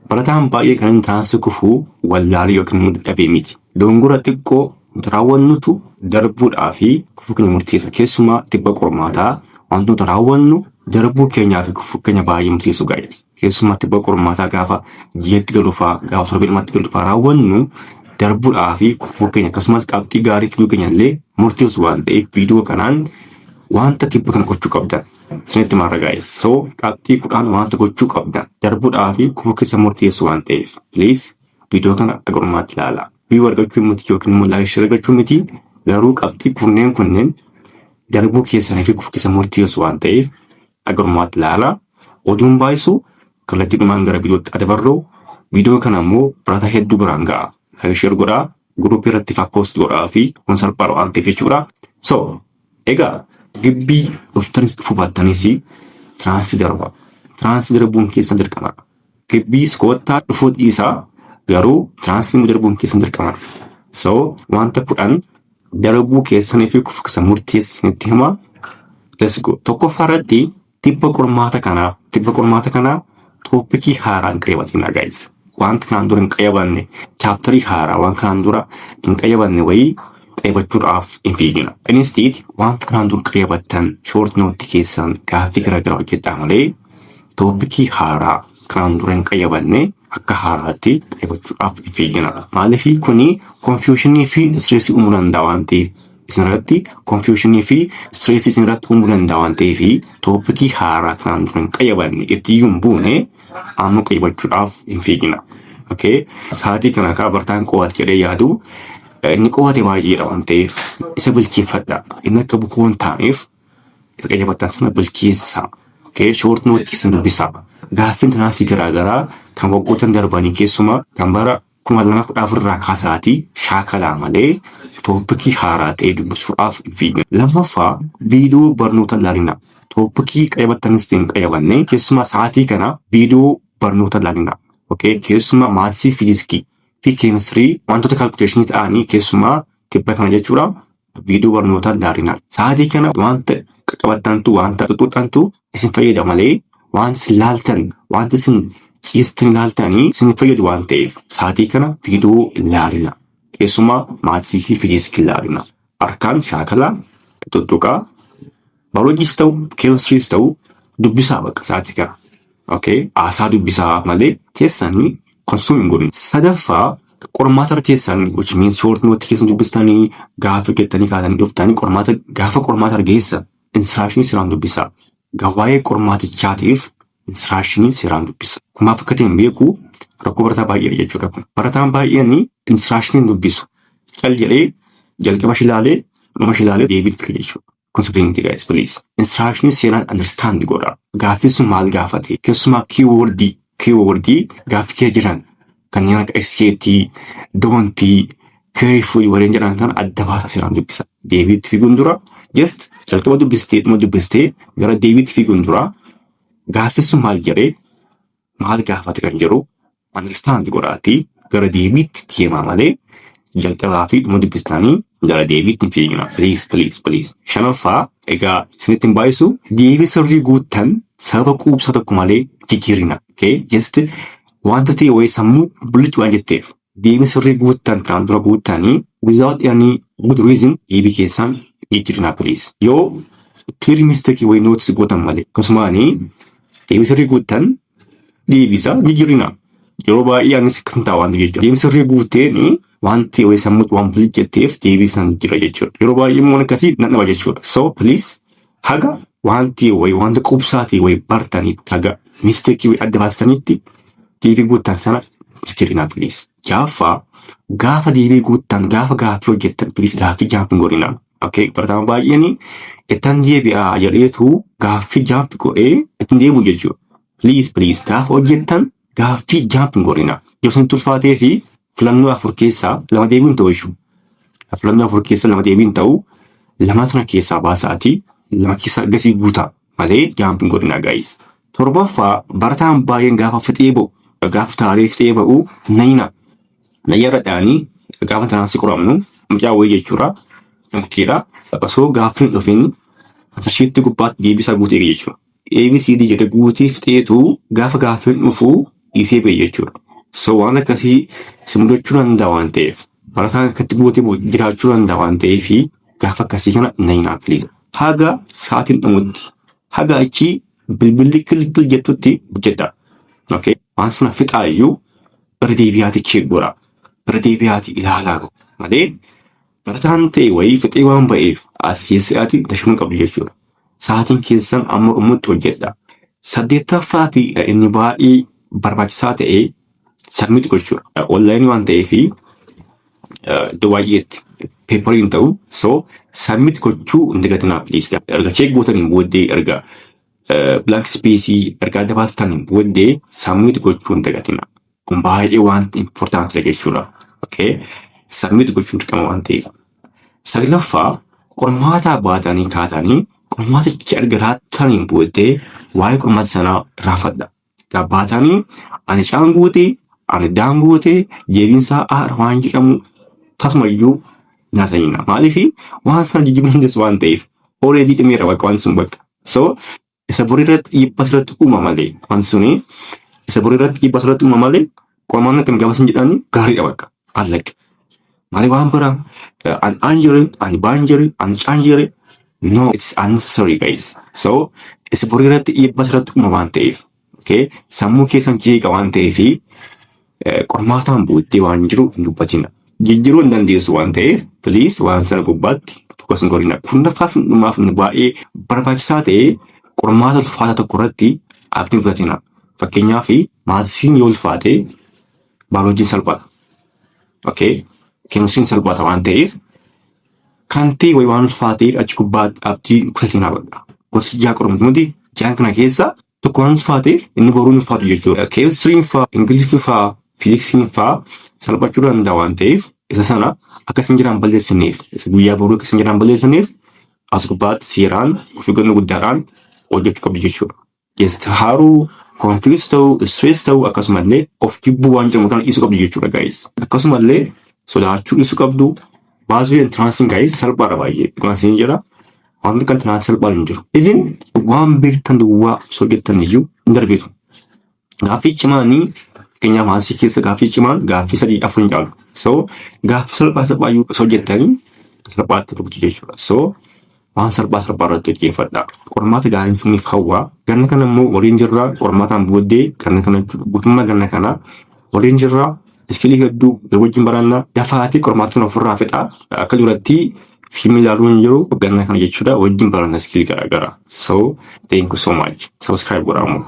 Barataan baay'ee kan inni taansi kufu wallaalee yookiin immoo dadhabee miti. Dogongora xiqqoo nuti raawwannutu darbuudhaa fi kufuu keenya murteessa. Keessumaa tibba qormaataa wanti nuti raawwannu darbuu keenyaa fi kufuu keenya baay'ee murteessu gaa'ees. Keessumaa tibba qormaataa gaafa ji'atti galufaa gaafa torbee lamatti galufaa raawwannu darbuudhaa fi kufuu keenya akkasumas qabxii gaarii fiduu keenya illee murteessu waan ta'eef viidiyoo kanaan wanta tibba kana gochuu qabdan Isinitti maara gaayis. So qabxii kudhaan wanta gochuu qabdan darbuudhaa fi kufuu keessa murteessu waan ta'eef please viidiyoo kana haga dhumaatti ilaalaa. View argachuu miti yookiin immoo like share argachuu miti garuu qabxii kunneen kunneen darbuu keessanii fi kufuu keessa murteessu waan ta'eef haga dhumaatti ilaalaa. Oduun baay'isu kallattiidhumaan gara viidiyootti adabarroo viidiyoo kana immoo barataa hedduu biraan ga'a. Like share godhaa group irratti fa post godhaa fi kun salphaadha waan ta'eef jechuudha. So egaa gibbii dhuftanis dhufuu baattanis tiraansi darba. Tiraansi darbuun keessan dirqama. Gibbiis koottaa dhufuu dhiisaa garuu tiraansi immoo darbuun keessan dirqama. So wanta kudhan darbuu keessanii fi kufkisa murteessa isinitti hima. Let's go. Tokkoffaa irratti Tibba qormaata kanaa tibba qormaata kanaa tooppikii haaraa hin qayyabatinaa guys. Wanti kanaan dura hin qayyabanne chaaptarii haaraa waan kanaan dura hin qayyabanne wayii qayyabachuudhaaf hin fiigina. Instead wanta kanaan dura qayyabattan short note keessan gaaffii garaagaraa hojjedhaa malee tooppikii haaraa kanaan dura hin qayyabanne akka haaraatti qayyabachuudhaaf hin fiigina. Maaliif kuni konfiyuushinii fi istireesii uumuu danda'a waan ta'eef. isinirratti confusion fi stress isinirratti uumuu danda'a waan ta'eef toopikii haaraa kanaan dura hin qayyabanne ittiyyuu hin buune amma qayyabachuudhaaf hin fiigina. Okay. Sa'aatii kana kaa bartaan qo'ate jedhee yaadu eh, inni qo'ate baay'eedha waan ta'eef isa bilcheeffadha. Inni akka bukoo hin taaneef isa qayyabattan sana bilcheessa. Okay. Short note isin dubbisa. Gaaffiin tanaasii garaagaraa kan waggoottan darbanii keessumaa kan bara 2014 irraa kaasaatii shaakalaa malee tooppikii haaraa ta'ee dubbisuudhaaf hin fiiginaa. Lammaffaa viidiyoo barnoota ilaalinaa. Tooppikii qayyabattanis ta'e hin qayyabanne keessumaa sa'aatii kana viidiyoo barnoota ilaalinaa. Okay? Keessumaa maatisii fiiziskii fi keemistirii wantoota kaalkuleeshinii ta'anii keessumaa tibba kana jechuudha viidiyoo barnootaa ilaalinaa. Sa'aatii kana wanta qaqqabattantu, wanta xuxxuxxantu isin fayyada malee waan isin laaltan, wanta isin ciistan laaltanii isin fayyadu waan ta'eef sa'aatii kana viidiyoo ilaalinaa. Keessumaa maatisii fi fiiziksii ilaalinaa. Harkaan shaakalaa, xuxxuqaa, Baayolojiis ta'u keemistiriis ta'u dubbisaa baqa sa'aatii kana. Okay. Haasaa dubbisaa malee teessanii konsum hin godhin. Sadaffaa qormaata irra teessan which means short note keessan dubbistanii gaafa hojjettanii kaatanii dhuftanii qormaata gaafa qormaata irra geessan instruction siraan dubbisaa. Gawaa'ee qormaatichaatiif instruction siraan dubbisa. Kun maaf akka ta'e hin beeku rakkoo barataa baay'eedha jechuudha kun. Barataan baay'een instruction hin dubbisu. Cal jedhee jalqaba ishii ilaalee dhuma ishii ilaalee deebii itti fida jechuudha. Kun sirrii miti guys please. Instruction seeraan understand godha. Gaaffiin sun maal gaafate? Keessumaa keyword keyword gaaffii kee jiran kanneen akka SJT, don't, carefully warreen jedhan kana adda baasaa seeraan dubbisa. Deebiitti fiiguun dura just jalqaba dubbistee dhuma dubbistee gara deebiitti fiiguun dura gaaffiin sun maal jedhee maal gaafata kan jedhu understand godhaatii gara deebiitti deemaa malee jalqabaa fi dhuma dubbistanii gara deebiitti hin fiigina. Please please please. Shanaffaa egaa isinitti hin baay'isu deebii sirrii guuttan sababa quubsaa tokko malee jijjiirina. Okay? Just wanta ta'e wayii sammuu bullichuudhaan jetteef deebii sirrii guuttan kanaan dura guuttanii without any good reason deebii keessan jijjiirinaa please. Yoo clear mistake way notice gootan malee akkasumaanii deebii sirrii guuttan deebisa jijjiirinaa. Yeroo baay'ee anis akkas ta'a wanti jechuudha. Deebii sirrii guuteen wanti way sammuutti waan bilit jetteef deebii san jira jechuudha. Yeroo baay'ee immoo akkasii nan dhaba jechuudha. So please Haga wanti way wanta qubsaatii way bartanitti haga mistake way adda baastanitti deebii guuttan sana jijjirinaa please. Jaaffaa gaafa deebii guuttan gaafa gaaffii hojjettan please gaaffii jaamp hin godhinaa. Okay barataama baay'een ittan deebi'aa jedheetu gaaffii jaamp godhee ittin deebi'u jechuudha. Please please gaafa hojjettan Gaaffii jaamp hin godhina. Yoo isin tulfaatee fi filannoo afur keessaa lama deebiin hin ta'u jechuudha. Filannoo afur keessaa lama deebiin hin ta'u lamaa sana keessaa baasaati lama keessaa gasii guutaa malee jaamp hin godhina gaayis. Torbaffaa barataan baay'een gaafa fixee ba'u gaafa kutaalee fixee ba'u nayina nayyarradhaanii gaafa tanaan si qoramnu mucaa wayii jechuudha. Mukkeedha. Osoo gaaffiin hin dhufin ansashiitti gubbaatti deebisaa guutee jechuudha. ABCD jedhe guutee fixeetu gaafa gaaffiin dhufu dhiisee ba'e jechuudha. So waan akkasii si mudachuu danda'a waan ta'eef barataan akkatti guutee ba'u jiraachuu danda'a waan ta'eef gaafa akkasii kana na hin haafiliisa. Haga sa'aatiin dhumutti haga achi bilbilli kilkil jettutti hojjedha. Okay. Waan sana fixaayyuu bara deebi'aati cheek godha. Bara deebi'aati ilaalaa malee Barataan ta'e wayii fixee waan ba'eef as yeessi'aati dashama qabdu jechuudha. Sa'aatiin keessan amma dhumutti hojjedha. Saddeettaffaa fi inni baay'ee barbaachisaa ta'e sabmit gochuudha. Onlaayinii waan ta'eef iddoo baay'eetti peeparii hin ta'u. So sabmit gochuu hin dagatinaa please. Erga cheek gootaniin booddee erga blank space erga adda baastaniin booddee sabmit gochuu hin dagatinaa. Kun baay'ee waan important dha jechuudha. Okay. Submit gochuun dirqama waan ta'eef. Saglaffaa qormaataa baatanii kaatanii qormaatichi erga laattaniin booddee waa'ee qormaata sanaa raafadha. Egaa baatanii ani caan guute, ani daan guute, deebiinsaa aara waan jedhamu tasuma iyyuu hin haasa'ina. Maaliif waan sana jijjiiruu hin dandeessu waan ta'eef. Already dhumeera bakka wanti sun bakka. So isa bor irratti dhiibbaa asirratti uuma malee wanti suni isa bor irratti dhiibbaa asirratti uuma malee qormaanni akkam gaafa isin jedhani gaariidha bakka allaqe malee waan biraa an anjere an baanjere an caanjere no it's unnecessary guys so isa bor irratti dhiibbaa asirratti uuma waan ta'eef okay sammuu keessan jeeqa waan ta'eefi Qormaataan booddee waan jiru hin dubbatina. Jijjiiruu hin dandeessu waan ta'eef piliis waan sana gubbaatti fokas hin godhina. Kurnaffaa fi dhumaaf nu baay'ee barbaachisaa ta'e qormaata ulfaataa tokko irratti abdii hin kutatina. Fakkeenyaaf maatiin yoo ulfaate baayoloojiin salphata. Okay? Keemisiin salphata waan ta'eef kan ta'e wayi waan ulfaateef achi gubbaatti abdii kutatina bakka. Gosa ja'a qormaata nuti ja'an kana keessa tokko waan faa ta'eef inni boruu hin faatu jechuudha. Keemistiriin faa, Ingiliffii faa, Fiiziksiin faa salphachuu danda'a waan ta'eef isa sana akka isin jiraan balleessineef isa guyyaa boruu akka isin jiraan balleessineef as gubbaatti seeraan of eeggannoo guddaadhaan hojjechuu qabdu jechuudha. Geessi haaruu, konfiis ta'uu, istirees ta'uu akkasumallee of jibbuu waan jedhamu kana dhiisuu qabdu jechuudha gaa'is. Akkasumallee sodaachuu dhiisuu qabdu baasii entraansiin gaa'is salphaadha baay'ee dhugaan isin jira. Wanti kan tanaan salphaan hin jiru. Even waan beektan duwwaa osoo jettan iyyuu hin darbitu. Gaaffii cimaanii fakkeenyaaf maatii keessa gaaffii cimaan gaaffii sadii afur hin caalu. So gaaffii salphaa salphaa iyyuu osoo jettanii salphaatti rukutu jechuudha. So waan salphaa salphaa irratti hojjeeffadha. Qormaata gaariin isiniif hawwa. Ganna kana immoo waliin jirra. Qormaataan booddee ganna kana guutummaa ganna kanaa Waliin jirra. Iskilii hedduu wajjin baranna. Dafaatii qormaatni ofirraa fixaa. Akka duratti fiilmii ilaaluu hin jiru. Ganna kana jechuudha wajjin baranna iskilii garaagaraa. So thank you so much. Subscribe godhaa immoo.